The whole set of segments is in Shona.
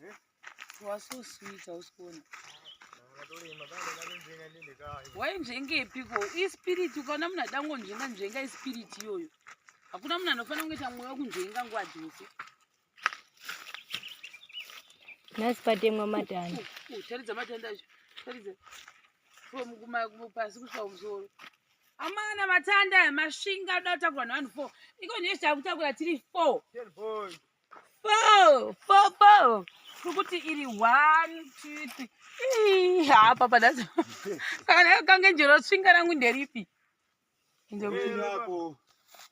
Eh? You are so sweet, hausikona. wainzvengepiko ispiriti ukaona munhu ada ngonzvenga nzvenga ispiriti iyoyo hakuna munhu anofanira kungoita mwoyo wekunzvenga nguva dzose nhasi patemwa matanda taridza matanda acho taridza pasi kusvika kumusoro amana matanda masvinga ada kutakura nevanhu four iko nyechi takutakura tiri four four four four kukuti iri one two three hapa padaza kana kange njero tsvinga rangu nderipi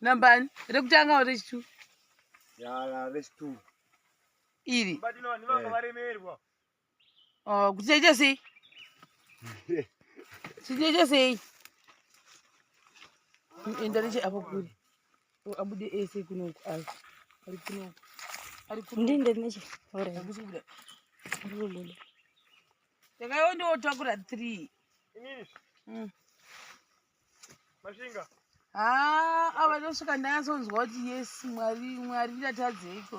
nambani rekutanga o rechitu rechitu iri Oh, kuti chaita sei? Chichaita sei? Enda neche apo kuri. Abude ese kunoku ayo. Ari kunoku. Ari kunoku. Ndinde neche. Ora. Akusi kuda. Ndinde. Takayo ndo takura 3. Inini. Mm. Mashinga. Ah, ava ndosvika ndanyasonzwa kuti yes, Mwari, Mwari ndatadzeiko.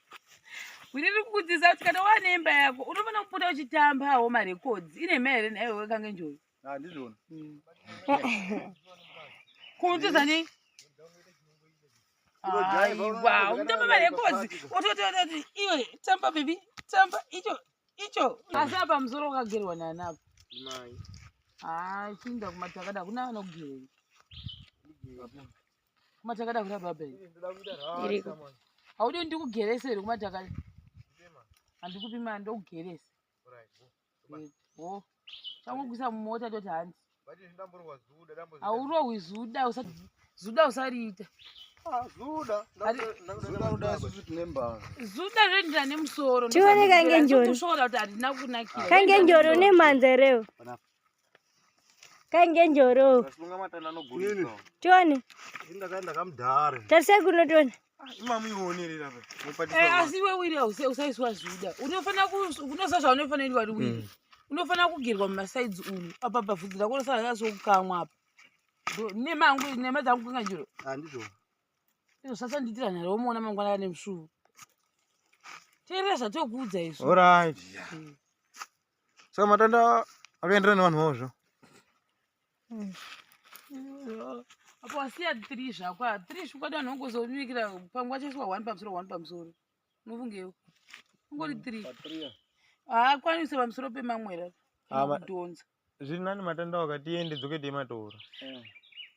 Wini riri kukudzidzisa kuti kana wane imba yako unofanira kupota uchitamba hawo marekodzi ine mhaya here nayo wekange njoyi handizvona ah, hmm. kuudzidza nei aiwa unotamba marekodzi otototi iwe tamba bebi tamba icho icho asi apa musoro wakagerwa nani apa haa ah, chinda kumatakada hakuna vanogerwa kumatakada kuda baba iriko haudi ndikugerese here kumatakada handikupi mari ndokugerese ho changokuisa mumota toti hanzi haurohwi zuda zuda usariita tionekangenjorikangenjori une mhanza rewo kainge njoro tione tarisai kuno tione eh, asi iwe wiri usaiswa zvuda unofanira unoziva zvaunofanirii wari wiri hmm. unofanira kugerwa mumasaidzi umu apa pavhudzi rako unosaaasokukamwa apa nemangu nema dzangu kunga njoro andizvo izvo sasandiitira nharo womuona mangwana ane musvuvu teerera zvatokuudza izvo orit hmm. saka matanda akaenderana nevanhu vavo zvo apo wasiya three zvako three zvikwadi vanhu vangozomikira pamwe vachaiswa one pamusoro one pamusoro unofungewo ungori three haakwanise pamusoro pemamwera kudhonza zviri nani matanda wakatiende dzoke teimatora eh.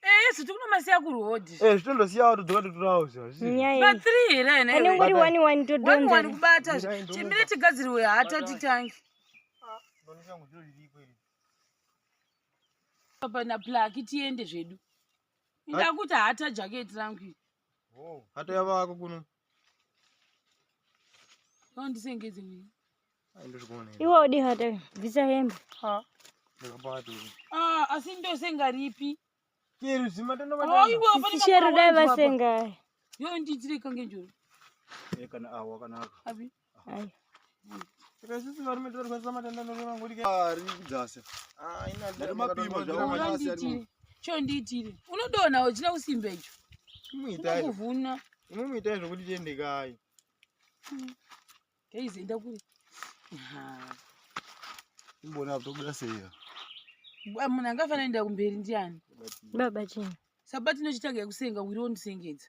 Eh, zviti kunomasiya kuroad. Eh, zvitondosiya watu dzoka totorawo zvazvi. Nyaya. Ba 3 here ene. Pane ngori 1 1 to donza. 1 1 kubata. Chimire chigadziriwe hata titangi. Ah, ndoni changu zviro zviri kweli. Papa na plaki tiende zvedu. Ndakuti hata jacket rangu. Oh, hata yava wako kuno. Ndisengedze mimi. Ndozvikuona. Iwe odi hata bvisa hembe. Ha. Ndakabata. Ah, asi ndosenga ripi? Kero zimatano bata. Oh, iwe ofana. Shero dai vasenga. Yo ndidzire kange njoro. Eh kana awa kana. Abi. Hai. Saka sisi varume tivarwadzisa matanda ndokuti mangodi kai. Ah, rini kudzasa. Ah, ina Vari ndiri mapima mapima zvawo. zvawo. Asi ari Unondiitire. Cho ndiitire. Unodona uchina kusimba icho. Muitai. Unokuvhuna. Imwe muitai zvokuti tiende kai. Guys enda kuri. Ah. Imbona apo tobuda sei. Bwa, Munhu angafanira kuenda kumberi ndiani? Baba chini? Sabati inochitanga yekusenga wiri wondisengedza.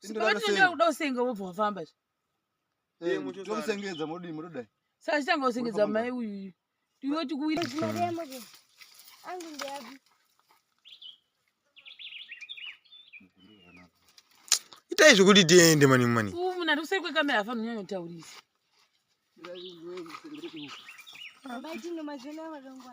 Sipatinoda kuda usenga wobva wafamba zve. Eh, tomusengedza modii motodai. Saka chitanga usengedza mai uyu. Ndiwe tikuwira. Angu ndiyapi? Itai zvekuti tiende mani mani. Umu munhu arikuseri kwekamera afana unyanya kutaurisa. Baba tino mazvona varongwa.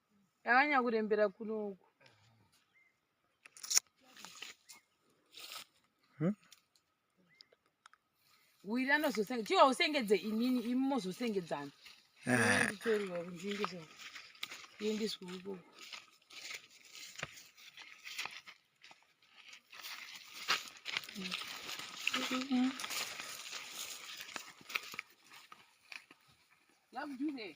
Yavanya kurembera kuno uku. Hmm? Wira anozosenge chiwa usengedze inini imi mozosengedzana. Ah. Nditoriwa kunjinge so. Yendiswa uko. Mm-hmm. Love you, hey.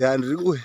ya ndiri kuuya